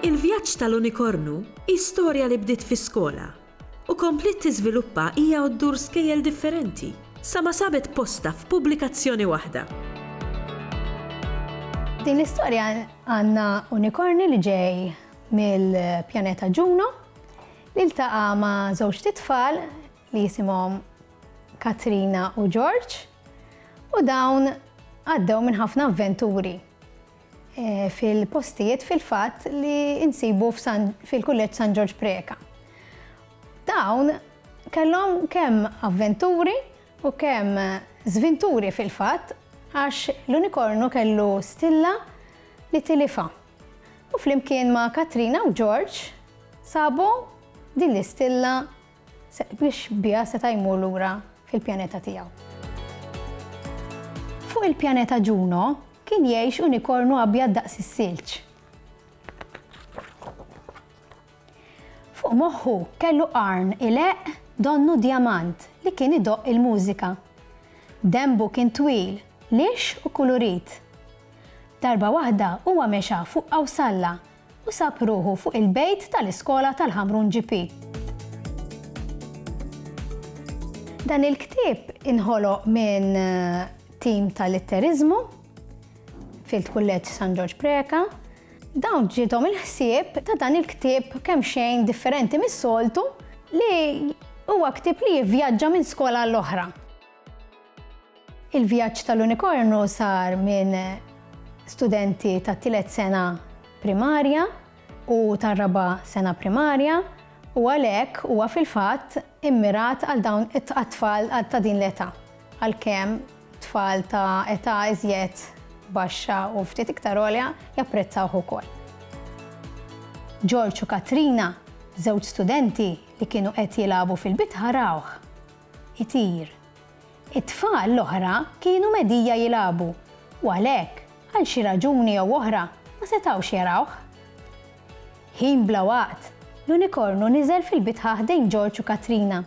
Il-vjaġġ tal-unikornu hi storja li bdiet fi skola u kompliet tiżviluppa hija u ddur skejjel differenti sa ma sabet postha f'pubblikazzjoni waħda. F'din l-istorja għandna unikorni li ġej mill-pjaneta Ġuno li ltaqa' ma' żewġt itfal li jisimhom Katrina u George u dawn għaddew minn ħafna avventuri eh, fil-postijiet fil-fatt li insibu fil-kulleġġ San Ġorġ Preka. Dawn kellhom kemm avventuri u kemm zvinturi fil-fatt għax l-unikornu kellu stilla li tilifa. U flimkien ma' Katrina u George sabu din l-istilla biex biha seta' jmur lura fil-pjaneta tiegħu. Fuq il-pjaneta Ġuno kien jgħix unikornu abjad daqs is-silġ. Fuq moħħu kellu qarn ileqq donnu djamant li kien idoqq il-mużika. Denbu kien twil, lixx u kulurit. Darba waħda huwa mexa fuq Qawsalla u sab ruħu fuq il-bejt tal-iskola tal-Ħamrun GP. Dan il-ktieb inħoloq minn tim ta' litteriżmu fil-Kulleġġ San Ġorġ Preca Dawn ġiethom il-ħsieb ta' dan il-ktieb kemxejn differenti mis-soltu li huwa ktieb li jivvjaġġa minn skola għall-oħra. Il-vjaġġ tal-unikornu sar minn studenti tat-tielet sena primarja u tar-raba' sena primarja u għalhekk huwa fil-fatt immirat għal dawn it-tqat-tfal ta' din l-età. għalkemm tfal ta' età iżjed baxxa u ftit iktar għolja japprezzawh ukoll. George u Katrina, żewġ studenti li kienu qed jilagħbu fil-bitħa rawh itir. It-tfal l-oħra kienu medija jilagħbu u għalhekk, għal xi raġuni jew oħra, ma setgħux jarawh. Ħin bla waqt, l-unikornu niżel fil-bitħa ħdejn George u Katrina.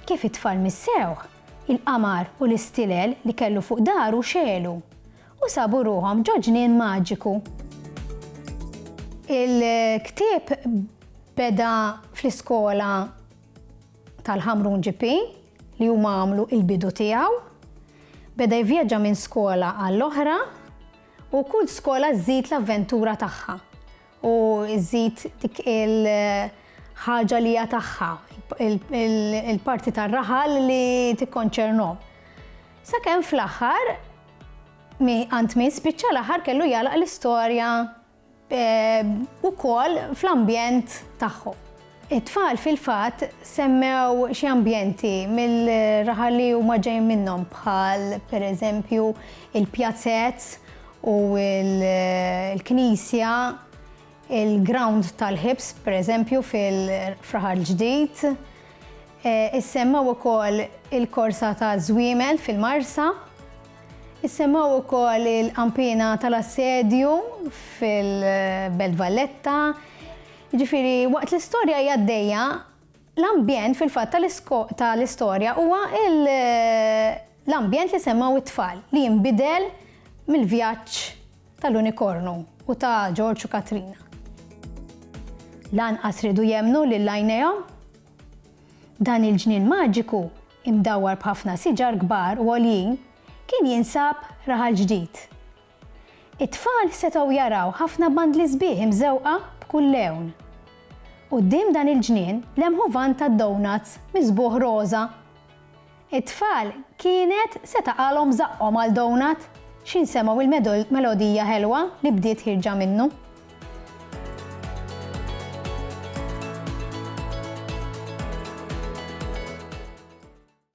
Kif it-tfal missewh, il-qamar u l-istilel li kellu fuq daru xegħlu, u sabu ruħhom ġo ġnien maġiku. Il-ktieb beda fl-iskola tal-Ħamrun GP li huma għamlu il-bidu tiegħu. Beda jivvjaġġa minn skola għall-oħra u kull skola żżid l-avventura tagħha. u żżid dik il-ħaġa li hija tagħha, il-parti tar-raħal li tikkonċernhom. Sakemm fl-aħħar għand min spiċċa l-aħħar kellu jalaq l-istorja eh, ukoll fl-ambjent tagħhom. It-tfal fil-fatt semmew xi ambjenti mill-raħal li huma ġejjin minnhom bħal pereżempju il-pjazez u l-knisja, il-ground tal-ħibs pereżempju fil-Raħal Ġdid. Eh, issemmaw ukoll il-korsa ta' żwiemel fil-Marsa. Issemmaw ukoll il-qampina tal-assedju fil-Belt Valletta, Jiġifieri, waqt li storja hi għaddejja, l-ambjent fil-fatt tal-istorja huwa l-ambjent li semgħu t-tfal li jinbidel mill-vjaġġ tal-unikornu u ta' Ġorġ u Katrina. Lanqas riedu jemmnu lil għajnejhom. Dan il-ġnien maġiku, imdawwar b'ħafna siġar kbar u għoljin, kien jinsab Raħal Ġdid, It-tfal setgħu jaraw ħafna bandli sbieħ imżewqa b'kull lewn. Quddiem dan il-ġnien lemħu vann tad-donuts misbugħ roża. It-tfal kienet se taqgħalhom żaqqhom għal donut x'ħin semgħu il-melodija ħelwa li bdiet ħierġa minnu.